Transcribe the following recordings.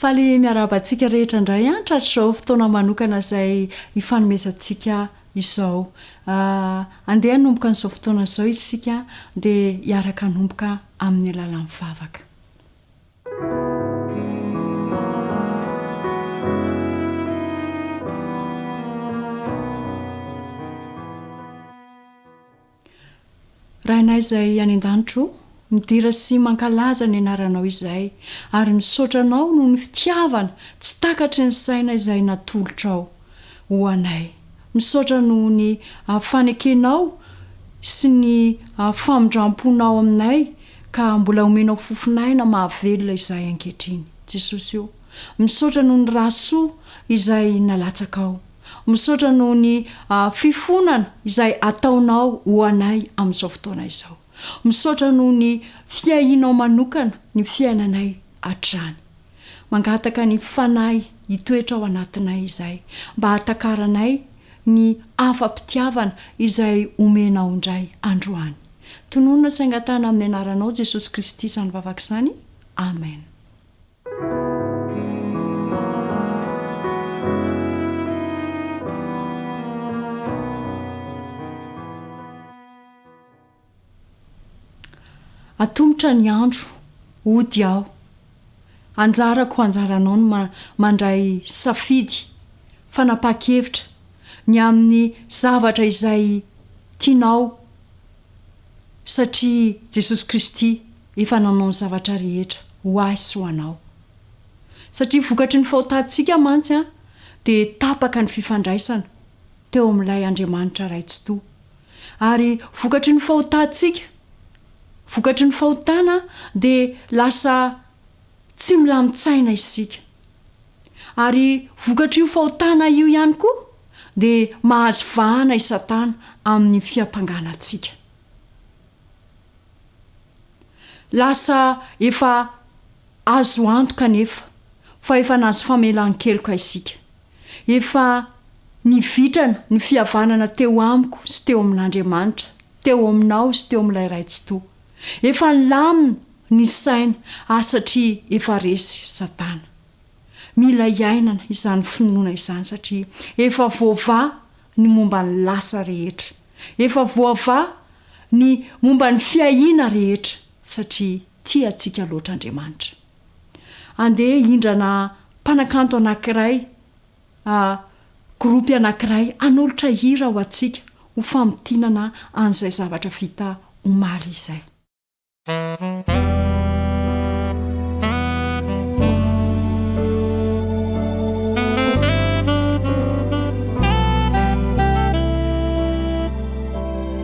Faly miarahaba antsika rehetra indray an tratr'izao fotoana manokana izay hifanomezantsika izao. Ah, andeha hanomboka an'izao fotoana izao isika dia hiaraka hanomboka amin'ny alalan'ny vavaka. Rainay izay any an-danitra o, midira sy mankalaza ny anaranao izay, ary misaotra anao noho ny fitiavana tsy takatry ny saina izay natolotrao ho anay Misaotra noho ny fanekenao sy ny famindramponao aminay ka mbola omenao fofon'aina mahavelona izahay ankehitriny. Jesosy o, misaotra noho ny ra soa izay nalatsakao. Misaotra noho ny fifonana izay ataonao ho anay amin'izao fotoana izao. Misaotra noho ny fiahianao manokana ny fiainanay hatrany. Mangataka ny Fanahy hitoetra ao anatinay izay mba hatakaranay ny afa-pitiavana izay omenao indray androany. Tononina sy angatahana amin'ny anaranao Jesosy Kristy izany vavaka izany. Amen. Atomotra ny andro, hody aho. Anjarako anjaranao ny mandray safidy, fanapahan-kevitra, ny amin'ny zavatra izay tianao, satria Jesosy Kristy efa nanao ny zavatra rehetra ho ahy sy ho anao. Satria vokatry ny fahotantsika mantsy dia tapaka ny fifandraisana teo amin'ilay Andriamanitra Ray Tsitoha. Ary vokatry ny fahotantsika, vokatry ny fahotana dia lasa tsy milamin-tsaina isika. Ary vokatr'io fahotana io ihany koa dia mahazo vahana i Satana amin'ny fiampangana antsika. Lasa efa azo antoka anefa fa efa nahazo famelan-keloka isika. Efa nivitrana ny fihavanana teo amiko sy teo amin'Andriamanitra, teo aminao sy teo amin'ilay Ray Tsitoha. Efa nilamina ny saina, ah satria efa resy Satana. Mila iainana izany finoana izany satria efa voavaha ny momba ny lasa rehetra. Efa voavaha ny momba ny fiahiana rehetra satria Tia antsika loatra Andriamanitra. Andeha hindrana mpanakanto anankiray, a gropy anankiray hanolotra hira ho antsika ho famintinana an'izay zavatra vita omaly izay.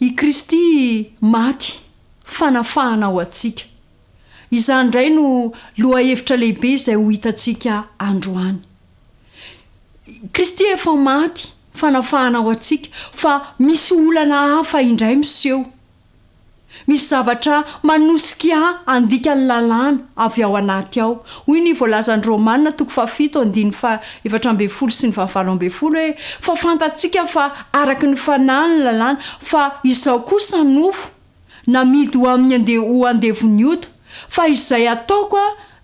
I Kristy maty, fanafahana ho antsika. Izany indray no lohahevitra lehibe izay ho hitantsika androany. Kristy efa maty, fanafahana ho antsika, fa misy olana hafa indray miseho. Misy zavatra manosika ahy handika ny lalàna avy ao anaty ao. Hoy ny voalazan'i Romana toko fahafito andininy fahaefatra ambin'ny folo sy ny fahavalo ambin'ny folo hoe, Fa fantatsika fa araka ny fanahy ny lalàna, fa izao kosa nofo, namidy ho amin'ny ande-ho andevon'ny ota, fa izay ataoko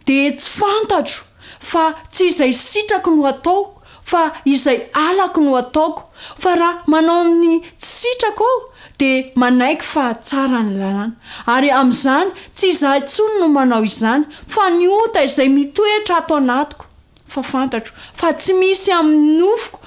Dia tsy fantatro fa tsy izay sitrako no ataoko fa izay halako no ataoko fa raha manao ny tsy sitrako aho dia manaiky fa tsara ny lalàna ary amin'izany tsy izaho intsony no manao izany fa ny ota izay mitoetra ato anatiko fa fantatro fa tsy misy amin'ny nofoko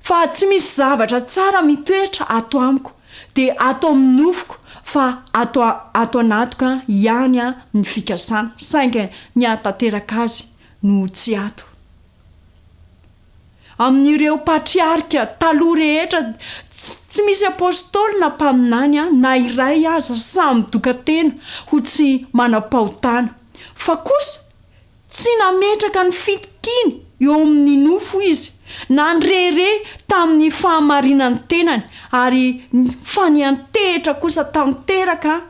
Fa tsy misy zavatra tsara mitoetra ato amiko, dia ato amin'ny nofoko, fa ato, ato anatiko ihany ny fikasana, saingy ny hahatanteraka azy no tsy ato. Amin'ireo patriarika taloha rehetra, tsy, tsy misy apostoly na mpaminany na iray aza samy doka-tena ho tsy manam-pahotana. Fa kosa, Tsy nametraka ny fitokiany eo amin'ny nofo izy, na nirehareha tamin'ny fahamarinan'ny tenany, ary fa niantehitra kosa tanteraka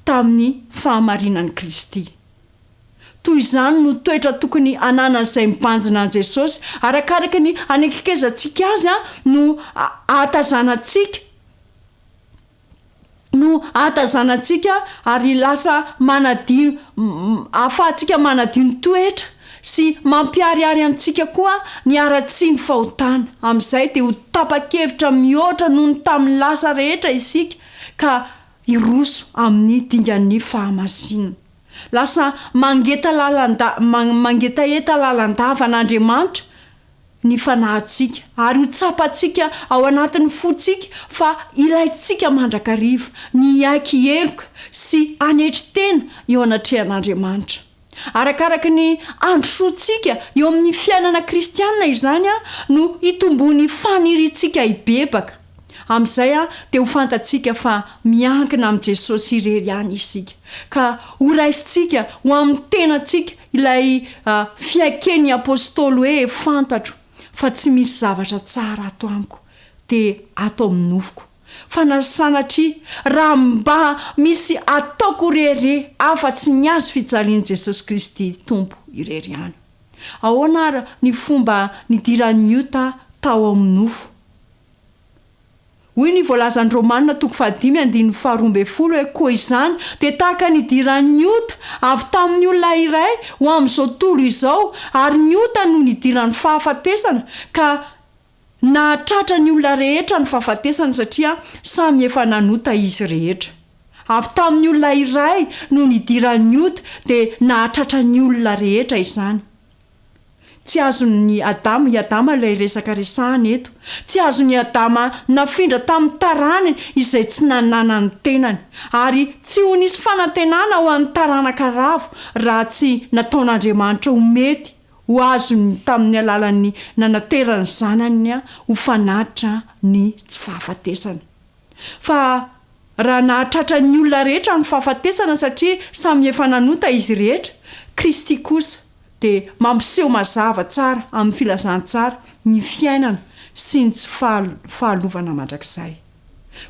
tamin'ny fahamarinan'i Kristy. Toy izany no toetra tokony hananan'izay mibanjina an'i Jesosy. Arakaraka ny hanekekezantsika azy no ahatazanantsika. no ahatazanantsika ary lasa manadio ahafahantsika manadio ny toetra sy mampiharihary amintsika koa ny haratsian' ny fahotana. Amin' izay dia ho tapa-kevitra mihoatra noho ny tamin'ny lasa rehetra isika ka hiroso amin'ny dingan'ny fahamasinana. Lasa mangetalalan-da man mangetaheta lalandava an' Andriamanitra ny fanahintsika, ary ho tsapantsika ao anatin'ny fontsika fa ilaintsika mandrakariva ny hiaiky heloka sy hanetry tena eo anatrehan'Andriamanitra. Arakaraka ny handrosoantsika eo amin'ny fiainana kristiana izany no hitomboan'ny faniriantsika hibebaka. Amin'izay dia ho fantatsika fa miankina amin'i Jesosy irery ihany isika, ka horaisintsika ho amin'ny tenantsika ilay fiaiken'ny apostoly hoe fantatro fa tsy misy zavatra tsara ato amiko, dia ato amin'ny nofoko. Fa na sanatria, raha mba misy ataoko rery afa-tsy ny azy fijalian'i Jesosy Kristy Tompo irery ihany. Ahoana ary ny fomba nidiran'i Ota tao amin'ny nofo? Hoy ny voalazan'ny Romana toko fahadimy andininy faharoa ambin'ny folo hoe, Koa izany dia tahaka ny idiran'ny ota avy tamin'ny olona iray ho amin'izao tontolo izao, ary ny ota no nidiran'ny fahafatesana, ka nahatratra ny olona rehetra ny fahafatesana, satria samy efa nanota izy rehetra. Avy tamin'ny olona iray no nidiran'ny ota, dia nahatratra ny olona rehetra izany. Tsy azon'i Adama i Adama ilay resaka resahana eto. Tsy azon'i Adama nafindra tamin'ny tarany izay tsy nanana ny tenany. Ary tsy ho nisy fanantenana ho an'ny taranaka ravo raha tsy nataon'Andriamanitra ho mety ho azony tamin'ny alalan'ny nanateran'ny Zanany ho fanatitra ny tsy fahafatesana. Fa raha nahatratra ny olona rehetra ny fahafatesana satria samy efa nanota izy rehetra, Kristy kosa dia mampiseho mazava tsara amin'ny filazantsara ny fiainana sy ny tsy fahalovana mandrakizay.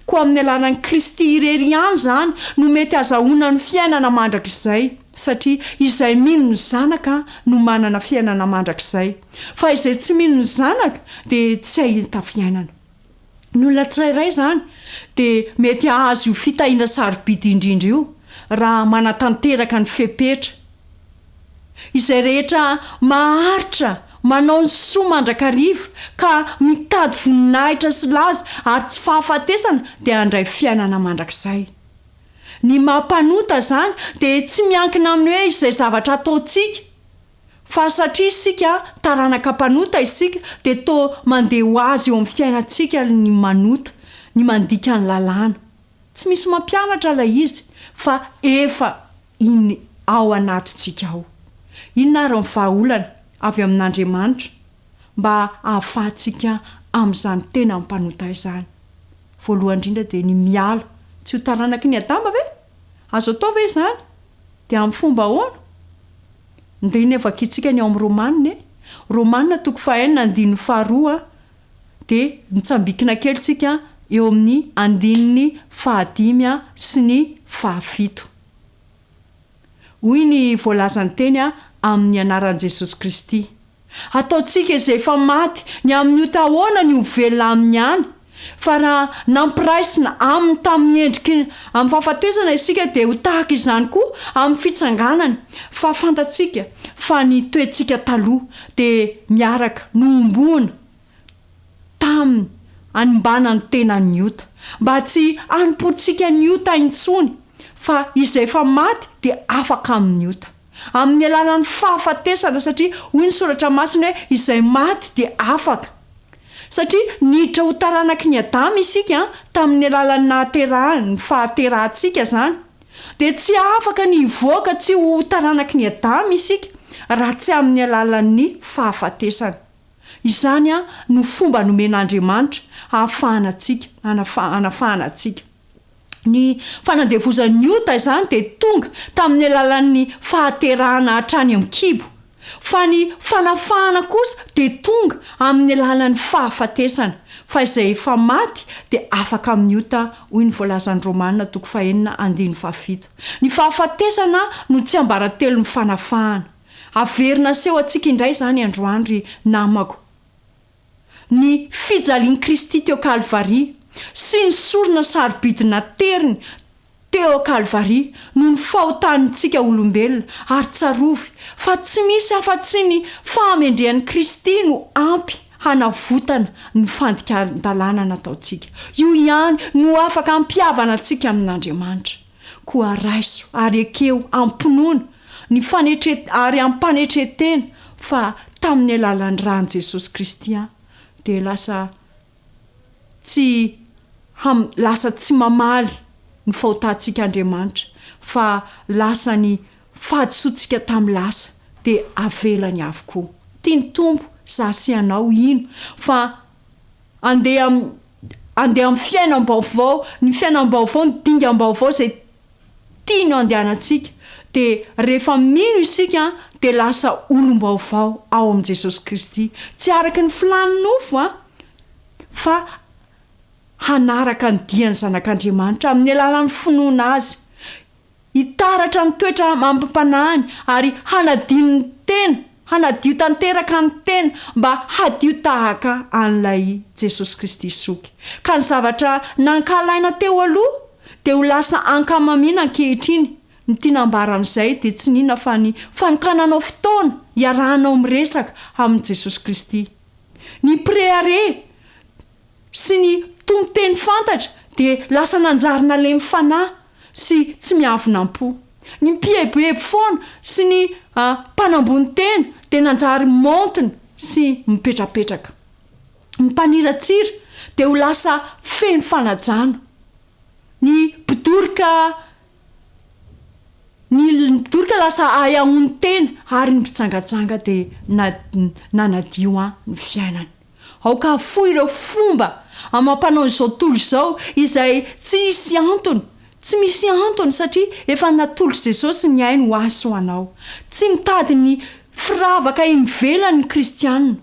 Koa amin'ny alalan'i Kristy irery ihany izany no mety hazahoana ny fiainana mandrakizay, satria izay mino ny Zanaka no manana fiainana mandrakizay, fa izay tsy mino ny Zanaka dia tsy hahita fiainana. Ny olona tsirairay izany dia mety hahazo io fitahiana sarobidy indrindra io raha manatanteraka ny fepetra izay rehetra maharitra manao ny soa mandrakariva ka mitady voninahitra sy laza ary tsy fahafatesana dia handray fiainana mandrakizay. Ny maha mpanota izany dia tsy miankina amin'ny hoe izay zavatra ataontsika Fa satria isika taranaka mpanota isika dia toa mandeha ho azy eo amin'ny fiainantsika ny manota, ny mandika ny lalàna. Tsy misy mampianatra ilay izy fa efa in ao anatintsika ao. Inona ary ny vahaolana avy amin'Andriamanitra mba ahafahantsika amin'izany tena mpanota izany? Voalohany indrindra dia ny miala, tsy io taranaky ny Adama ve? Azo atao ve izany? Dia amin'ny fomba ahoana? Ndry ny vakintsika ny ao amin'ny Romana e! Romana toko fahaenina andininy faharoa dia mitsambikina kely tsika eo amin'ny andininy fahadimy sy ny fahafito. Hoy ny voalazan'ny teny amin'ny anaran'i Jesosy Kristy. Ataontsika izay efa maty ny amin'ny ota ahoana ny ho velona aminy any, fa raha nampiraisina aminy tamin'ny endriky ny amin'ny fahafatesana isika dia ho tahaka izany koa amin'ny fitsanganany, fa fantatsika fa ny toetsika taloha dia miaraka, nohomboana, Taminy, hanimbana ny tenan'ny ota, mba tsy hanompoantsika ny ota intsony, fa izay efa maty dia afaka amin'ny ota, amin'ny alalan'ny fahafatesana, satria hoy ny Soratra Masina hoe, Izay maty dia afaka. Satria niditra ho taranaky ny Adama isika, tamin'ny alalan'ny nahaterahany, ny fahaterahantsika izany, dia tsy afaka ny hivoaka tsy ho taranaky ny Adama isika, raha tsy amin'ny alalan'ny fahafatesana. Izany no fomba nomen'Andriamanitra hahafahana antsika, hanafahana antsika. Ny fanandevozan'ny ota izany dia tonga tamin'ny alalan'ny fahaterahana hatrany an-kibo, fa ny fanafahana kosa dia tonga amin'ny alalan'ny fahafatesana, fa izay efa maty dia afaka amin'ny ota, hoy ny voalazan'ny Romana toko fahenina andininy fahafito. Ny fahafatesana no tsiambaratelon'ny fanafahana. Averina aseho antsika indray izany androany ry namako. Ny fijalian'i Kristy teo Kalvary sy ny sorona sarobidy nateriny teo Kalvary noho ny fahotantsika olombelona, ary tsarovy fa tsy misy afa-tsy ny fahamendrehan'i Kristy no ampy hanavotana ny fandikan-dalàna nataontsika. Io ihany no afaka hampihavana antsika amin'Andriamanitra. Koa raiso ary ekeo am-pinoana ny fanetre ary ampanetren-tena fa tamin'ny alalan'ny ran'i Jesosy Kristy aho dia lasa tsy ham lasa tsy mamaly ny fahotantsika Andriamanitra fa lasa ny fahadisoantsika tamin'ny lasa dia avelany avokoa. Tia ny Tompo za sy ianao hino fa Andeha andeha amin'ny fiainam-baovao, ny fiainam-baovao, ny dingam-baovao izay tiany handehanantsika. Dia rehefa mino isika dia lasa olom-baovao ao amin'i Jesosy Kristy. Tsy araka ny filàn'ny nofo an, fa hanaraka ny dian'ny Zanak'Andriamanitra amin'ny alalan'ny finoana Azy. Hitaratra ny toetra amim-panahiny ary hanadino ny tena, hanadio tanteraka ny tena mba hadio tahaka an'ilay Jesosy Kristy Zoky. Ka ny zavatra nankahalaina teo aloha dia ho lasa ankamamiana ankehitriny, ny tiana hambara amin'izay dia tsy n'inona fa ny fanokananao fotoana hiarahanao miresaka amin'i Jesosy Kristy. Ny mpirehareha sy ny mpitono teny fantatra dia lasa nanjary nalemy fanahy sy tsy miafina am-po. Ny mpieboebo foana sy ny mpanambony tena dia nanjary maontina sy mipetrapetraka. Ny mpaniratsira dia ho lasa feno fanajana. Ny mpidoroka ny mpidoroka lasa ahy aho no tena ary ny mpijangajanga dia nanadio ahy ny fiainany. Aoka hafoy ireo fomba amam-panao izao tontolo izao izay tsy hisy antony, tsy misy antony satria efa natolotry Jesosy ny ainy ho ahy sy ho anao. Tsy mitady ny firavaka imivelany ny kristiana,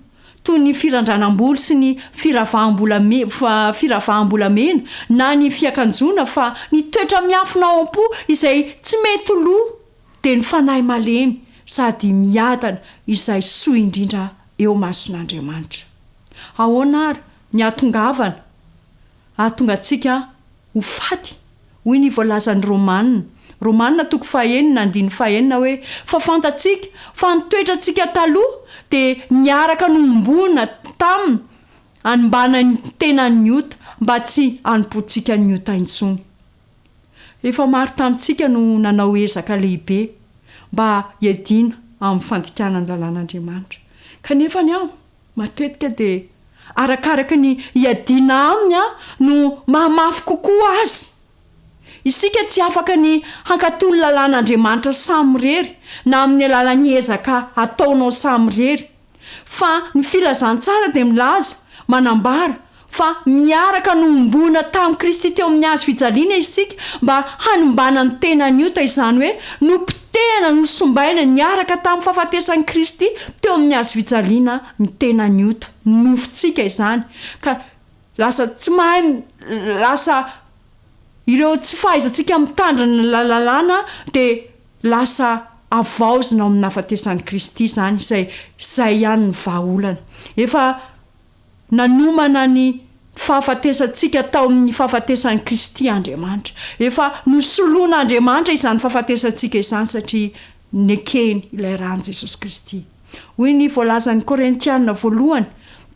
toy ny firandranam-bolo sy ny firavaham-bolamena na ny fiakanjoana fa ny toetra miafina ao am-po izay tsy mety lo dia ny fanahy malemy sady miadana izay soa indrindra eo mason'Andriamanitra. Ahoana àry ny hahatongavana hahatonga antsika ho faty? Hoy ny voalazan'ny Romana, Romana toko fahenina andininy fahenina hoe, Fa fantatsika fa ny toetrantsika taloha dia niaraka nohomboana taminy hanimbana ny tenan'ny ota, mba tsy hanompoantsika ny ota intsony. Efa maro tamintsika no nanao ezaka lehibe mba hiadiana amin'ny fandikana ny lalàn'Andriamanitra, kanefa ny ahy matetika dia arakaraka ny hiadiana aminy aho no mahamafy kokoa azy. Isika tsy afaka ny hankatò ny lalàn'Andriamanitra samirery na amin'ny alalan'ny ezaka ataonao samirery. Fa ny Filazantsara dia milaza, manambara, fa miaraka nohomboana tamin'i Kristy teo amin'ny Hazo fijaliana isika mba hanimbana ny tenan'ny ota, izany hoe nopotehana, nosombaina, niaraka tamin'ny fahafatesan'i Kristy teo amin'ny Hazo fijaliana ny tenan'ny ota, ny nofontsika izany, ka lasa tsy mahay, lasa Ireo tsy fahaizantsika mitandrina ny lalalàna dia lasa havaozina ao amin'ny nahafatesan'i Kristy izany izay izay ihany no vahaolana. Efa nanomana ny fahafatesantsika tao amin'ny fahafatesan'i Kristy Andriamanitra. Efa nosoloan'Andriamanitra izany fahafatesantsika izany satria nekeny ilay ran'i Jesosy Kristy. Hoy ny voalazan'ny Korintiana voalohany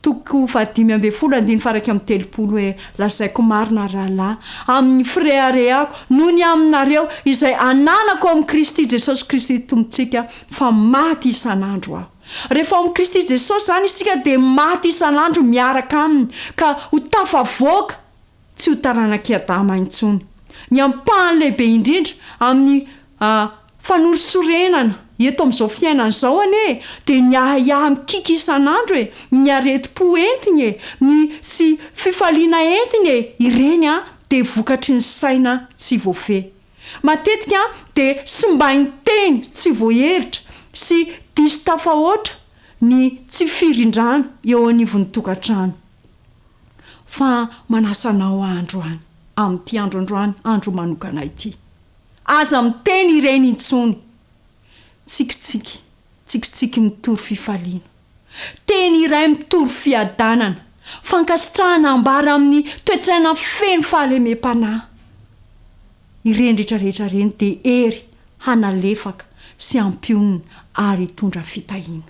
toko fahadimy ambin'ny folo andininy faharaika amby telopolo hoe, Lazaiko marina, rahalahy, amin'ny fireharehako noho ny aminareo izay ananako amin'i Kristy Jesosy Kristy Tompontsika, fa maty isan'andro aho. Rehefa ao amin'i Kristy Jesosy izany isika dia maty isan'andro miaraka Aminy ka ho tafavoaka. tsy ho taranak'i Adama intsony. Ny ampahany lehibe indrindra amin'ny fanorisorenana eto amin'izao fiainana izao anie e, dia ny ahiahy mikiky isan'andro e, ny aretim-po entiny e, ny tsy fifaliana entiny e, ireny dia vokatry ny saina tsy voafehy. Matetika dia simbain'ny teny tsy voahevitra sy diso tafahoatra ny tsy firindrana eo anivon'ny tokantrano. fa manasa anao aho androany, amin'ity andro androany, andro manokana ity. Aza miteny ireny intsony. Tsikitsiky, tsikitsiky mitory fifaliana. Teny iray mitory fiadanana. Fankasitrahana ambara amin'ny toe-tsaina feno fahalemem-panahy. Ireny rehetra rehetra ireny dia hery hanalefaka sy hampionona ary hitondra fitahiana.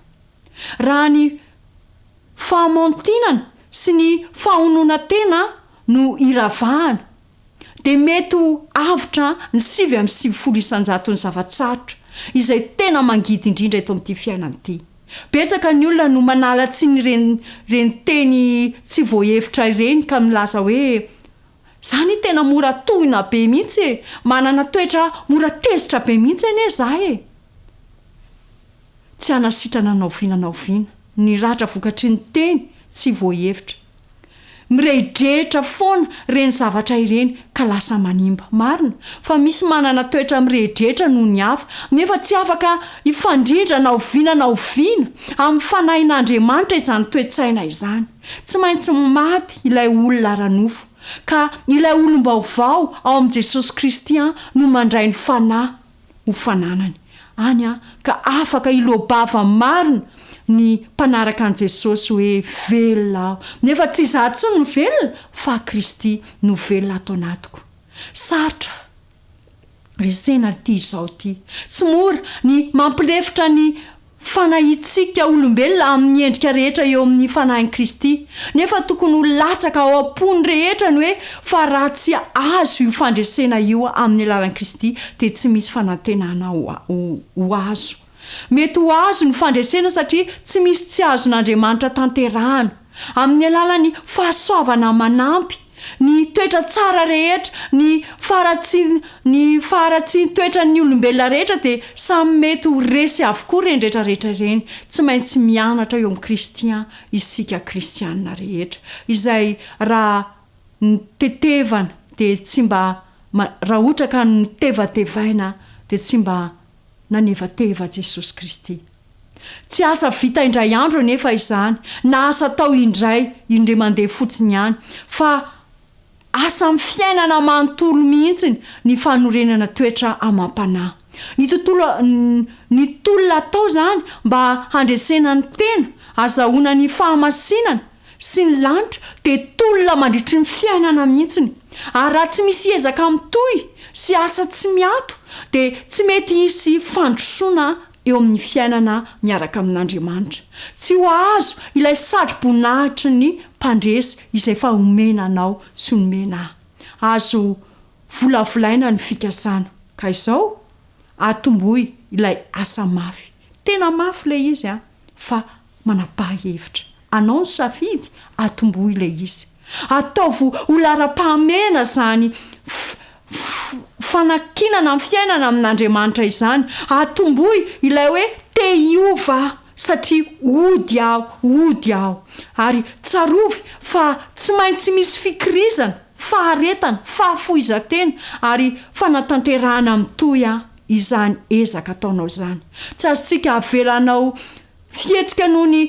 raha ny fahamantinana sy ny fahononan-tena no iravahana, dia mety ho avotra ny sivy amby sivifolo isan-jaton'ny zava-tsarotra izay tena mangidy indrindra eto amin'ity fiainana ity. Betsaka ny olona no manala tsiny ireny ireny teny tsy voahevitra ireny ka milaza hoe, Izaho anie tena mora tohina be mihitsy e! Manana toetra mora tezitra be mihitsy anie izaho e! tsy hanasitrana na oviana na oviana. Ny ratra vokatry ny teny tsy voahevitra. Mirehidrehitra foana ireny zavatra ireny ka lasa manimba. Marina fa misy manana toetra mirehidrehitra noho ny hafa, nefa tsy afaka hifandrindra na oviana na oviana amin'ny fanahin'Andriamanitra izany toe-tsaina izany. Tsy maintsy maty ilay olona ara-nofo, ka ilay olom-baovao ao amin'i Jesosy Kristy no mandray ny fanahy. ho fananany any an, ka afaka hiloa-bava marina ny mpanaraka an'i Jesosy hoe velona aho, nefa tsy izaho intsony no velona fa Kristy no velona ato anatiko. Sarotra resena ity izao ity. Tsy mora ny mampilefitra ny. Fanahintsika olombelona amin'ny endrika rehetra eo amin'ny Fanahin'i Kristy, nefa tokony ho latsaka ao am-pon'ny rehetra ny hoe fa raha tsy azo io fandresena io amin'ny alalan'i Kristy dia tsy misy fanantenana ho azo. Mety ho azo ny fandresena satria tsy misy tsy azon'Andriamanitra tanterahana, amin'ny alalan'ny fahasoavana manampy, ny toetra tsara rehetra, ny faharatsian ny faharatsian toetran ny olombelona rehetra dia samy mety ho resy avokoa ireny rehetra rehetra ireny, tsy maintsy mianatra eo amin'i Kristy an isika kristianina rehetra, izay raha ny tetevana dia tsy mba ma raha ohatra ka notevatevaina dia tsy mba nanevateva Jesosy Kristy. Tsy asa vita indray andro anefa izany, na asa atao indray, indray mandeha fotsiny ihany, fa asa amin'ny fiainana manontolo mihitsy ny fanorenana toetra amam-panahy. Ny tontolo, ny tolona atao izany mba handresena ny tena, azahoana ny fahamasinana, sy ny lanitra dia tolona mandritry ny fiainana mihitsiny ary raha tsy misy ezaka mitohy sy asa tsy miato dia tsy mety hisy fandrosoana eo amin'ny fiainana miaraka amin'Andriamanitra. Tsy ho ahazo ilay satro-boninahitry ny mpandresy izay efa omena anao sy nomena ahy. Azo volavolaina ny fikasana ka izao atomboy ilay asa mafy. Tena mafy ilay izy an! fa manapaha hevitra. Anao ny safidy, atombohy ilay izy. Ataovy ho laharam-pahamehana izany fanankinana ny fiainana amin'Andriamanitra izany. Atombohy ilay hoe te hiova aho satria ody aho, ody aho. Ary tsarovy fa tsy maintsy misy fikirizana, faharetana, fahafoizan-tena ary fanatanterahana mitohy an. izany ezaka ataonao izany. Tsy azontsika avela hanao fihetsika noho ny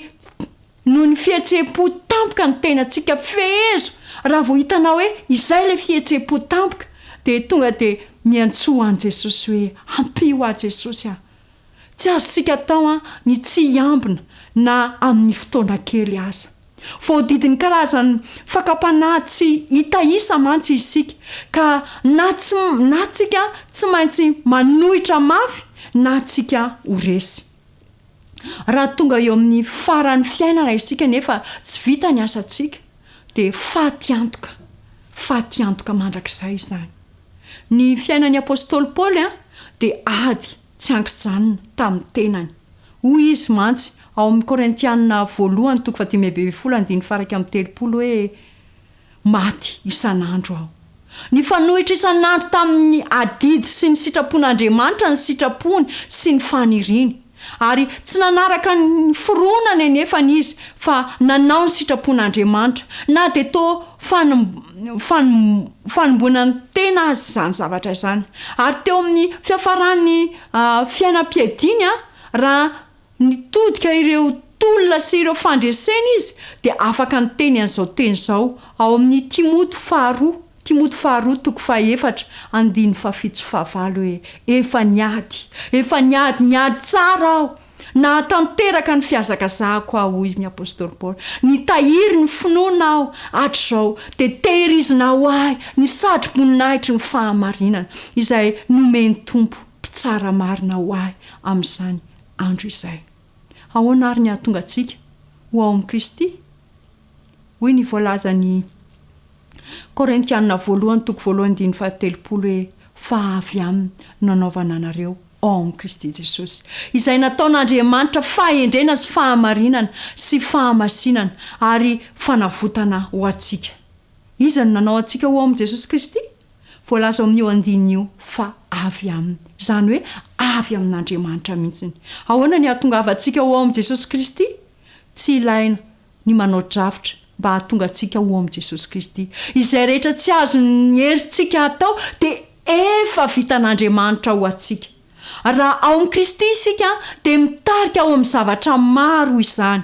noho ny fihetseham-po tampoka ny tenantsika. Fehezo! Raha vao hitanao hoe izay ilay fihetseham-po tampoka, dia tonga dia miantsoa an'i Jesosy hoe, Ampio ahy Jesosy a! Tsy azontsika atao ny tsy hiambina na amin'ny fotoana kely aza. Voadidin'ny karazan'ny fakam-panahy tsy hita isa mantsy isika, ka na tsy na tsika tsy maintsy manohitra mafy na tsika ho resy. Raha tonga eo amin'ny faran'ny fiainana isika nefa tsy vita ny asantsika, dia faty antoka, faty antoka mandrakizay izany. Ny fiainan'ny apostoly Paoly dia ady tsy ankijanona tamin'ny tenany. Hoy izy mantsy ao amin'ny Korintiana voalohany toko fahadimy ambin'ny folo andininy faha iraika amby telopolo hoe, Maty isan'andro aho. Nifanohitra isan'andro tamin'ny adidy sy ny sitrapon'Andriamanitra ny sitrapony sy ny faniriany, ary tsy nanaraka ny fironany anefany izy fa nanao ny sitrapon'Andriamanitra, na dia toa Fanom, fanom, fanomboana ny tena azy izany zavatra izany. Ary teo amin'ny fiafaran'ny fiainam-piadiany, raha nitodika ireo tolona sy ireo fandreseny izy, dia afaka niteny an'izao teny izao, ao amin'ny Timoty faharoa, Timoty faharoa toko fahefatra, andininy fahafito sy fahavalo hoe, Efa niady, efa niady, niady tsara aho, Nahatanteraka ny fihazakazahako aho, hoy ny apostoly Paoly. Nitahiry ny finoana aho hatrizao, dia tehirizina ho ahy ny satroboninahitry ny fahamarinana, izay nomen'ny Tompo mpitsara marina ho ahy amin'izany andro izay. Ahoana àry ny hahatonga antsika ho ao amin'i Kristy? Hoy ny voalazan'i. Korintiana voalohany toko voalohany andininy fahatelopolo hoe fa avy aminy no nanaovana anareo ao amin'i Kristy Jesosy izay nataon'Andriamanitra fahendrena sy fahamarinana sy fahamasinana ary fanavotana ho antsika. Iza no nanao antsika ho ao amin'i Jesosy Kristy? Voalaza ao amin'io andininy io fa avy aminy, izany hoe avy amin'Andriamanitra mihitsy. Ahoana ny hahatongavantsika ho ao amin'i Jesosy Kristy? Tsy ilaina ny manao drafitra mba hahatonga antsika ho ao amin'i Jesosy Kristy. Izay rehetra tsy azon'ny herintsika atao dia efa vitan'Andriamanitra ho antsika. Raha ao amin'i Kristy isika dia mitarika ho amin'ny zavatra maro izany,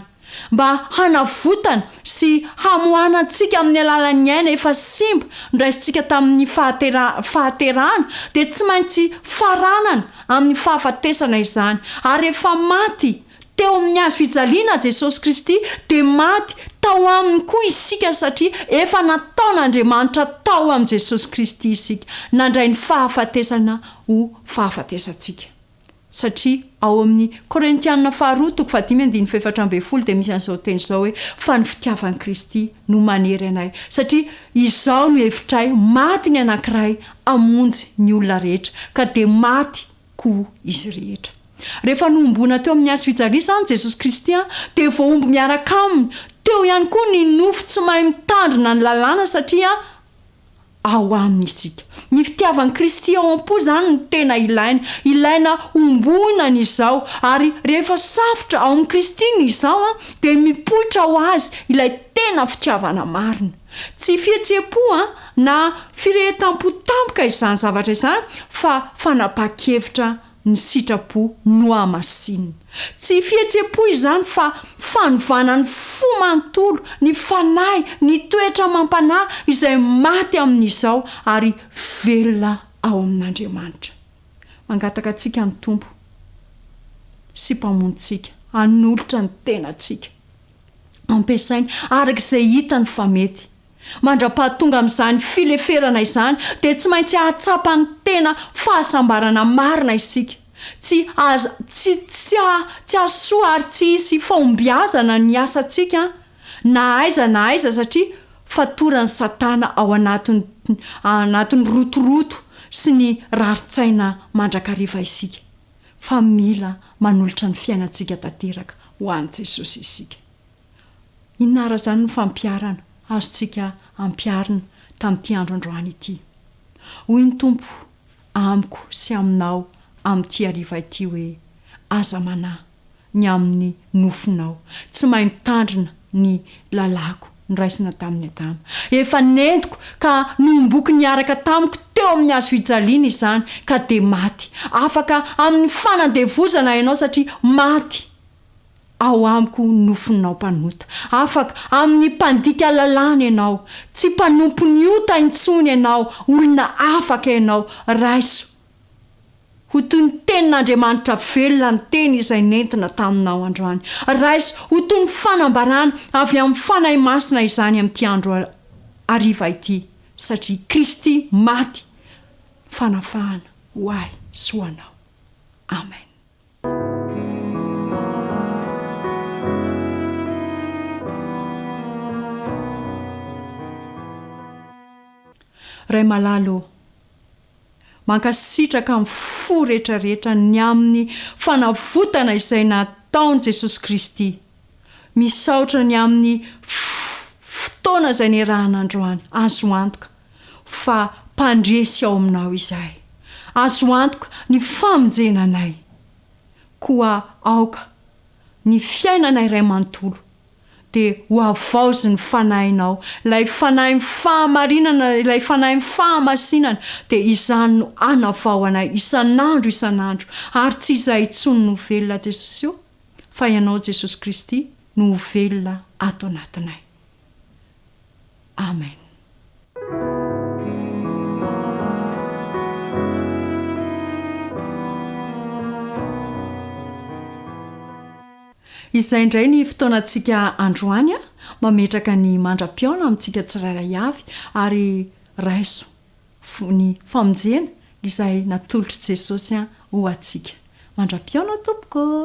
mba hanavotana sy hamoahana antsika amin'ny alalan'ny aina efa simba noraisintsika tamin'ny fahatera-fahaterahana dia tsy maintsy faranana amin'ny fahafatesana izany ary efa maty Teo amin'ny hazo fijaliana Jesosy Kristy dia maty tao Aminy koa isika satria efa nataon'Andriamanitra tao amin'i Jesosy Kristy isika, nandray ny fahafatesana ho fahafatesantsika. Satria ao amin'ny Korintiana faharoa toko fahadimy andininy fahefatra ambin'ny folo dia misy an'izao teny izao hoe, Fa ny fitiavan'i Kristy no manery anay, satria izao no hevitray, maty ny anankiray hamonjy ny olona rehetra, ka dia maty koa izy rehetra. Rehefa nohomboana teo amin'ny hazo fijaliana izany Jesosy Kristy dia voahombo miaraka Aminy teo ihany koa ny nofo tsy mahay mitandrina ny lalàna satria ao Aminy isika. Ny fitiavan'i Kristy ao am-po izany no tena ilaina. Ilaina homboina ny izaho ary rehefa safotra ao amin'i Kristy ny izaho dia mipoitra ho Azy ilay tena fitiavana marina. Tsy fihetseham-po na firehetam-po tampoka izany zavatra izany fa fanapahan-kevitra ny sitrapo nohamasinina. Tsy fihetseham-po izany fa fanovana ny fo manontolo, ny fanahy, ny toetra amam-panahy izay maty amin'izao ary velona ao amin'Andriamanitra. Mangataka antsika ny Tompo sy Mpamonintsika hanolotra ny tenantsika. ampiasainy araka izay hitany fa mety. Mandra-pahatonga amin'izany fileferana izany, dia tsy maintsy hahatsapa ny tena fahasambarana marina isika. Tsy azo, tsy, tsy, tsy hahasoa ary tsy hisy fahombiazana ny asantsika na aiza na aiza satria fatoran'i Satana ao anatin'ny, anatin'ny rotoroto sy ny rarin-tsaina mandrakariva isika. fa mila manolotra ny fiainantsika tanteraka ho an'i Jesosy isika. Inona àry izany no fampiharana azontsika ampiharina tamin'ity andro androany ity? Hoy ny Tompo amiko sy aminao amin'ity hariva ity hoe, Aza manahy, ny amin'ny nofinao. Tsy mahay mitandrina ny lalàko noraisina tamin'i Adama. Efa nentiko ka nohomboiko niaraka tamiko teo amin'ny hazo fijaliana izany, ka dia maty. Afaka amin'ny fanandevozana ianao satria maty ao amiko ny nofinao mpanota. Afaka amin'ny mpandika lalàna ianao. Tsy mpanompon'ny ota intsony ianao, olona afaka ianao. Raiso ho toy ny tenin'Andriamanitra velona ny teny izay nentina taminao androany. Raiso ho toy ny fanambarana avy amin'ny Fanahy Masina izany amin'ity andro hariva ity, satria Kristy maty fanafahana ho ahy sy ho anao. Amen. Ray malala ô, Mankasitraka amin'ny fo rehetra rehetra ny amin'ny fanavotana izay nataon'i Jesosy Kristy. Misaotra ny amin'ny fotoana izay niarahana androany. Azo antoka fa mpandresy ao aminao izahay. Azo antoka ny famonjena anay. Koa aoka ny fiainanay iray manontolo dia hohavaozin'ny Fanahinao, ilay Fanahin'ny fahamarinana, ilay Fanahin'ny fahamasinana, dia izany no hanavao anay isan'andro isan'andro, ary tsy izahay intsony no ho velona Jesosy o, fa Ianao Jesosy Kristy no ho velona ato anatinay. Amen. Izay indray ny fotoanantsika androany a! Mametraka ny mandra-pihaona amintsika tsirairay avy ary raiso ny famonjena izay natolotr'i Jesosy ho antsika. Mandra-pihaona tompoko ô!